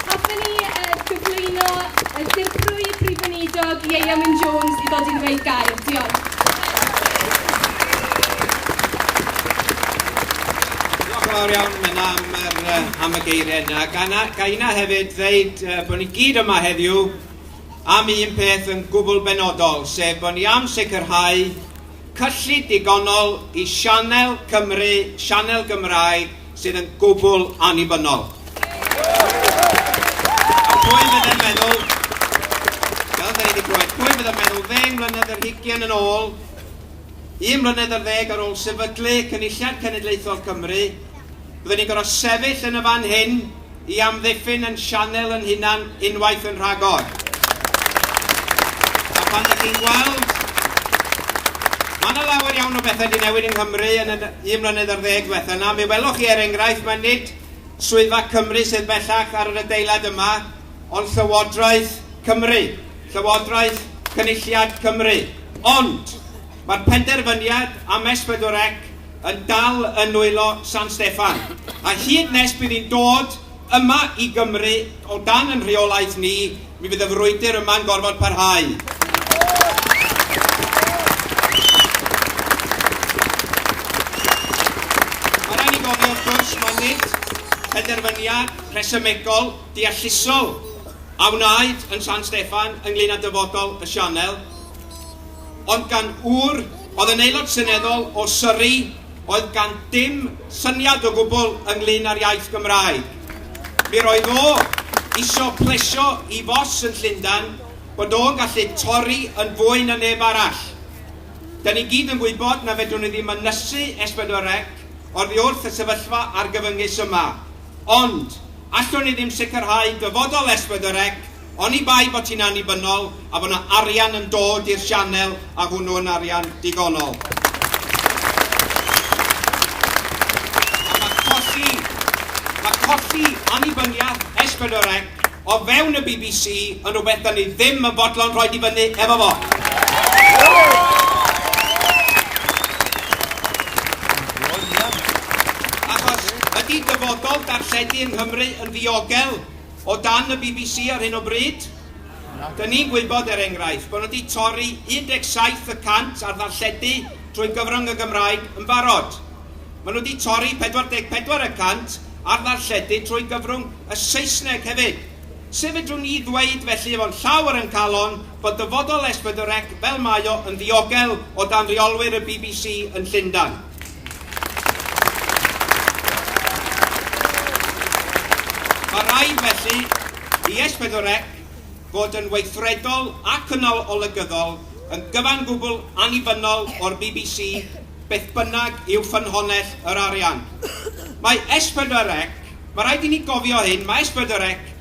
Hoffwn i uh, gyflwyno y uh, dirprwy Prif Weinidog Ieuan Wyn Jones i ddod i ddweud gair. Diolch. fawr iawn yna am, er, am y geiriau yna. Gana, gaina hefyd ddeud uh, bod ni gyd yma heddiw am un peth yn gwbl benodol, sef bod ni am sicrhau cyllid digonol i Sianel Cymru, Sianel Gymraeg, sydd yn gwbl annibynnol. A pwy fydde'n meddwl, fel da ni wedi clywed, pwy fydde'n meddwl ddeng mlynedd yr hugian yn ôl, un mlynedd ar ddeg ar ôl sefydlu Cynulliad Cenedlaethol Cymru, bydden ni'n gorfod sefyll yn y fan hyn, i amddiffyn yn sianel yn hunan unwaith yn rhagor. A pan ydych chi'n gweld, mae yna lawer iawn o bethau wedi newid yng Nghymru yn y un mlynedd ar ddeg diwetha yna. Mi welwch chi er enghraifft, mae nid swyddfa Cymru sydd bellach ar yr adeilad yma, ond Llywodraeth Cymru, Llywodraeth Cynulliad Cymru. Ond mae'r penderfyniad am S4C yn dal yn nwylo San Steffan, a hyd nes bydd hi'n dod yma i Gymru o dan yn rheolaeth ni, mi fydd y frwydr yma'n gorfod parhau. penderfyniad rhesymegol, deallusol a wnaed yn San Steffan ynglyn â dyfodol y sianel. ond gan ŵr oedd yn Aelod Seneddol o Surrey oedd gan dim syniad o gwbl ynglŷn â'r iaith Gymraeg. Mi roedd o isio plesio i fos yn Llundan bod o'n gallu torri yn fwy na neb arall. Da ni gyd yn gwybod na fedrwn ni ddim ynysu S4C oddi wrth y sefyllfa argyfyngus yma. Ond, allwn ni ddim sicrhau dyfodol S4C Oni bai bod ti'n annibynnol a bod 'na arian yn dod i'r sianel a hwnnw yn arian digonol. A mae colli, mae colli annibyniaeth S4C o fewn y bbc yn rhywbeth da ni ddim yn fodlon rhoi di fyny efo fo. Achos ydy dyfodol darlledu yng Nghymru yn ddiogel? O dan y bbc ar hyn o bryd, dyn ni'n gwybod, er enghraifft, bod nhw wedi torri 17 y cant ar ddarlledu trwy gyfrwng y Gymraeg yn barod. Maen nhw wedi torri 44 y cant ar ddarlledu trwy gyfrwng y Saesneg hefyd. Sut fedrwn ni ddweud felly efo'n llawr yn calon bod dyfodol S4C fel mae o yn ddiogel o dan reolwyr y bbc yn Llundain? Mae rhaid, felly, i Es Pedwar Ec fod yn weithredol ac yn olygyddol, yn gyfan gwbl annibynnol o'r bbc, beth bynnag yw ffynhonnell yr arian. Mae Es Pedwar Ec, mae rhaid i ni gofio hyn, mae Es Pedwar Ec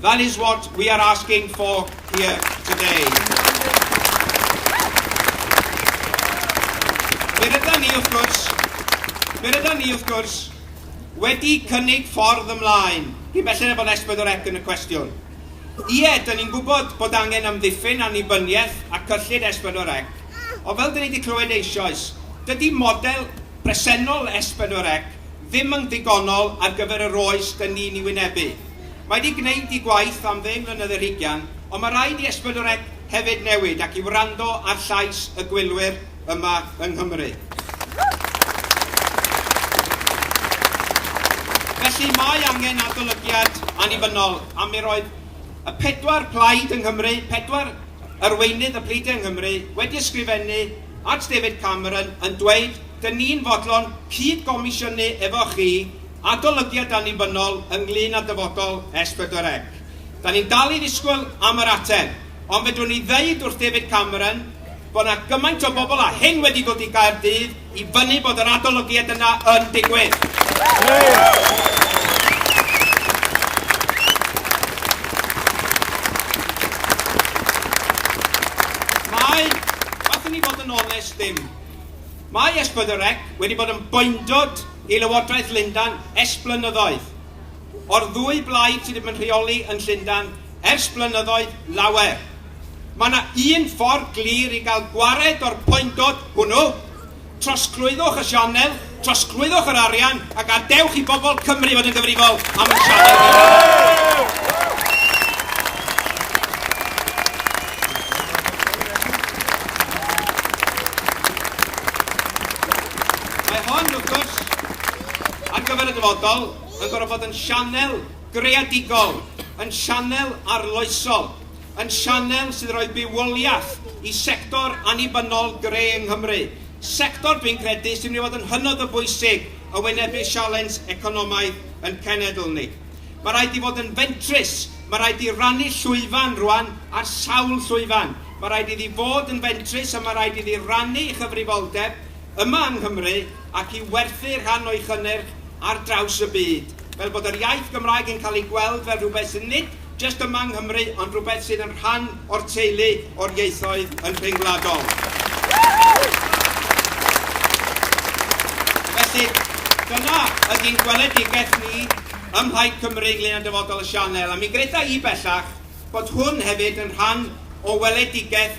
That is what we are asking for here today. Fe ryda ni, wrth gwrs, fe ryda ni, wrth gwrs, wedi cynnig ffordd ymlaen, cyn belled â bod S4C yn y cwestiwn. Ie, dyn ni'n gwybod bod angen amddiffyn annibyniaeth a cyllid S4C, ond fel dyn ni wedi clywed eisoes, dydy model presennol S4C ddim yn ddigonol ar gyfer yr oes dyn ni'n ei wynebu. Mae 'di gneud 'i gwaith am ddeng mlynedd ar hugain, ond mae rhaid i Ysbydrec hefyd newid ac i wrando ar llais y gwylwyr yma yng Nghymru. Felly mae angen adolygiad annibynnol a mi roedd y pedwar plaid yng Nghymru, pedwar arweinydd y pleidiau yng Nghymru, wedi ysgrifennu at David Cameron yn dweud 'dyn ni'n fodlon cyd-gomisiynu efo chi adolygiad annibynnol ynglŷn â dyfodol S4C. Da ni'n dal i ddisgwyl am yr ateb, ond fedrwn i ddeud wrth David Cameron bod 'na gymaint o bobl a hyn wedi dod i Gaerdydd i fynnu bod yr adolygiad yna yn digwydd. Mae, gallwn ni fod yn onest ddim, mae S4C wedi bod yn boendod i Lywodraeth Lundan ers blynyddoedd, o'r ddwy blaid sydd yn rheoli yn Llundan ers blynyddoedd lawer. Mae yna un ffordd glir i gael gwared o'r poendod hwnnw, trosglwyddwch y sianel, trosglwyddwch yr arian a gadewch i bobl Cymru fod yn gyfrifol am y sianel hynny. Mae hon, wrth gwrs, ar gyfer y dyfodol, yn gorfod bod yn sianel greadigol, yn sianel arloesol, yn sianel sydd yn rhoi bywoliaeth i sector annibynnol gre yng Nghymru, sector dwi'n credu sy'n mynd i fod yn hynod o bwysig yn wynebu sialens economaidd yn cenedl ni. Mae rhaid i fod yn fentrus, mae rhaid i rannu llwyfan rwan ar sawl llwyfan, mae rhaid iddi fod yn fentrus a mae rhaid iddi rannu ei chyfrifoldeb, yma yng Nghymru ac i werthu rhan o'i chynnyrch ar draws y byd, fel bod yr iaith Gymraeg yn cael ei gweld fel rhywbeth sydd nid jyst yma yng Nghymru ond rhywbeth sydd yn rhan o'r teulu o'r ieithoedd yn rhyngwladol. Felly, dyna ydy'n gweledigaeth ni ym Mhlaid Cymru ynglŷn â dyfodol y sianel, a mi gwnaetha i bellach bod hwn hefyd yn rhan o weledigaeth